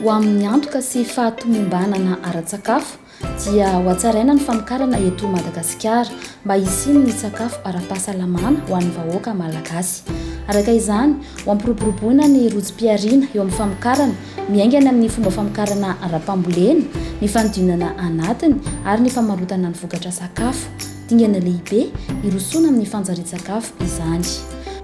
Ho amin'ny antoka sy fahatomombanana ara-tsakafo dia ho hatsaraina ny famokarana eto Madagasikara mba hisian'ny sakafo ara-pahasalamana ho an'ny vahoaka Malagasy. Araka izany, ho ampiroboroboana ny rojom-pihariana eo amin'ny famokarana Miaingana amin'ny fomba famokarana ara-pambolena, ny fanodinana anatiny ary ny famarotana ny vokatra sakafo. Dingana lehibe hirosoana amin'ny fanjarian-tsakafo izany.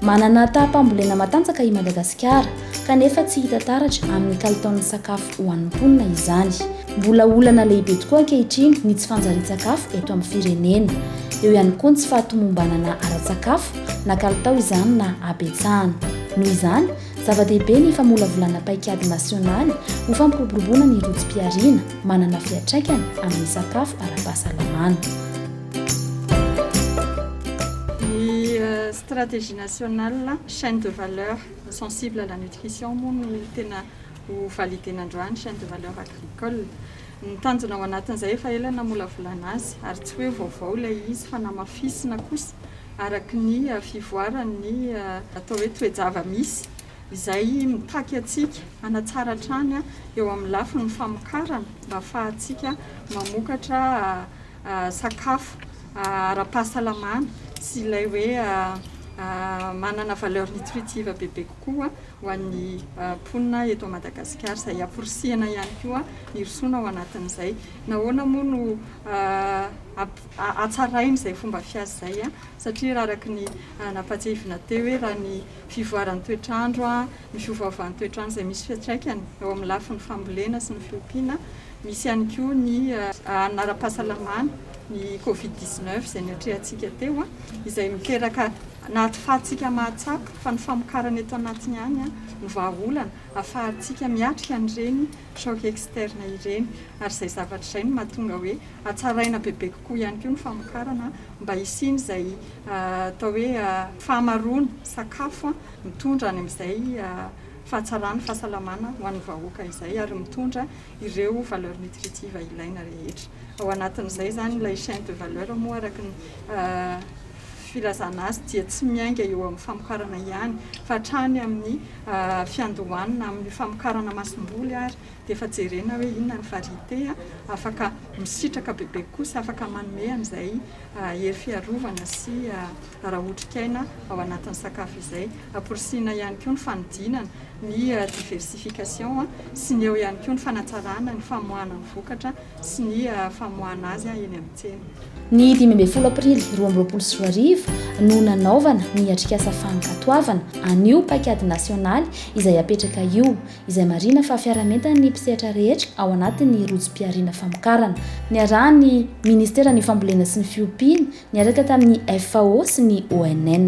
Manana taham-pambolena matanjaka i Madagasikara, kanefa tsy hita taratra amin'ny kalitaon'ny sakafo ho an'ny mponina izany. Mbola olana lehibe tokoa ankehitriny ny tsy fanjarian-tsakafo eto amin'ny firenena. Eo ihany koa ny tsy fahatomombanana ara-tsakafo, na kalitao izany na habetsahana. Noho izany, Zava-dehibe ny famolavolana paikady nasionaly ho fampiroboroboana ny rotsm-pihariana manana fiantraikany amin'ny sakafo ara-pahasalamana. Ny stratégie nationale chaine de valeur sensible à la nutrition moa no tena ho valider-na androany, chaine de valeur agricole. Ny tanjona ao anatin'izay efa ela namolavolana azy, ary tsy hoe vaovao ilay izy fa namafisina kosa araka ny fivoaran'ny atao hoe toe-java-misy izay mitaky antsika hanatsara hatrany eo amin'ny lafiny famokarana mba hahafahantsika mamokatra sakafo ara-pahasalamana sy ilay hoe manana valeur nutritive bebe koa ho an'ny mponina eto Madagasikara izay amporisihina ihany koa hirosoana ao anatin'izay. Nahoana moa no hatsaraina izay fomba fiasa izay satria raha araka ny nampahatsiahivina teo hoe raha ny fivoaran'ny toetr'andro, ny fiovaovan'ny toetr'andro izay misy fiantraikany eo amin'ny lafiny fambolena sy ny fiompiana, misy ihany koa ny hanina ara-pahasalamana, ny covid dix-neuf izay niatrehantsika teo izay miteraka Anaty fahatsika mahatsapa fa ny famokarana eto anatiny ihany no vahaolana afahantsika miatrika an'ireny choc externe ireny ary izay zavatra izay no mahatonga hoe hatsaraina bebe kokoa ihany koa ny famokarana mba hisian'izay atao hoe fahamaroana sakafo mitondra any amin'izay fahatsarana fahasalamana ho an'ny vahoaka izay ary mitondra ireo valeurs nutritives ilaina rehetra. Ao anatin'izay izany ilay chaine de valeur moa araka ny filazana azy dia tsy miainga eo amin'ny famokarana ihany fa hatrany amin'ny fiandohanana amin'ny famokarana masomboly ary dia efa jerena hoe inona ny variété afaka misitraka bebe kosa, afaka manome an'izay hery fiarovana sy ara-otrikaina ao anatin'ny sakafo izay. Amporisihina ihany koa ny fanodinana, ny diversification, sy ny eo ihany koa ny fanatsarana ny famoahana ny vokatra sy ny famoahana azy eny amin'ny tsena. Ny dimy ambin'ny folo aprily roa amby roapolo sy roa arivo no nanaovana ny atrikasa fankatoavana an'io paikady nasionaly izay apetraka io, izay marihina fa fiaraha-mientan'ny mpisehatra rehetra ao anatin'ny rojom-pihariana famokarana. Niarahan'ny Ministeran'ny Fambolena sy ny Fiompiana niaraka tamin'ny FAO sy ny ONN.